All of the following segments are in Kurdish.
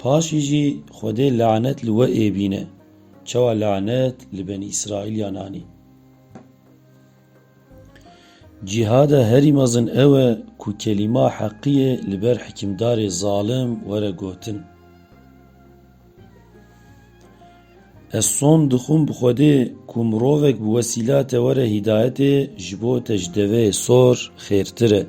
Paşî jî Xwedê lanet li we ê bîne. Çawa lanet li Benî Îsraîlyan anî? Cîhada herî mezin ew e ku kelîma heqiyê li ber hikimdarê zalim were gotin. Ez son dixwim bi Xwedê ku mirovek bi wesîla te were hîdayetê ji bo te ji deveyê sor xêrtir e.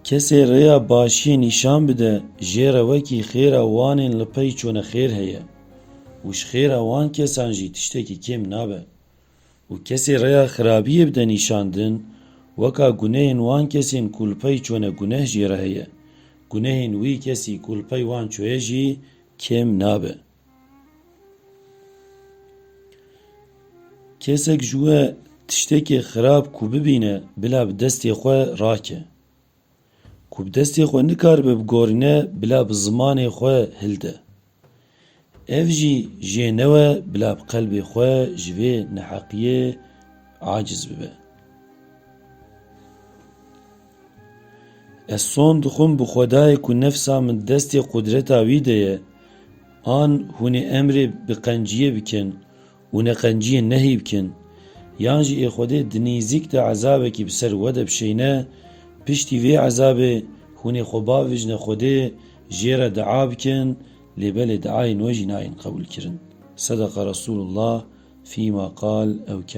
Kesê rêya başiyê nîşan bide jê re wekî xêra wanên li pey çûne xêr heye û ji xêra wan kesan jî tiştekî kêm nabe û kesê rêya xirabiyê bide nîşandin weka gunehên wan kesên ku li pey çûne guneh jê re heye, gunehên wî kesî ku li pey wan çûye jî kêm nabe. Kesek ji we tiştekê xirab ku bibîne bila bi destê xwe rake. Ku bi destê xwe nikaribe bigorîne bila bi zimanê xwe hilde. Ev jî jê newe bila bi qelbê xwe ji vê neheqiyê aciz bibe. Ez son dixwim bi Xwedayê ku nefsa min destê qudreta wî de ye. An hûnê emrê bi qenciyê bikin û neqenciyê nehî bikin. Yan jî ê Xwedê di nîzik de ezabekî bi ser we de bişêne, piştî vê ezabê hûnê xwe bavijne Xwedê, jê re dua bikin, lê belê duayên we jî nayên qebûlkirin. Sedeqa Resulullah fîma qal ew kal.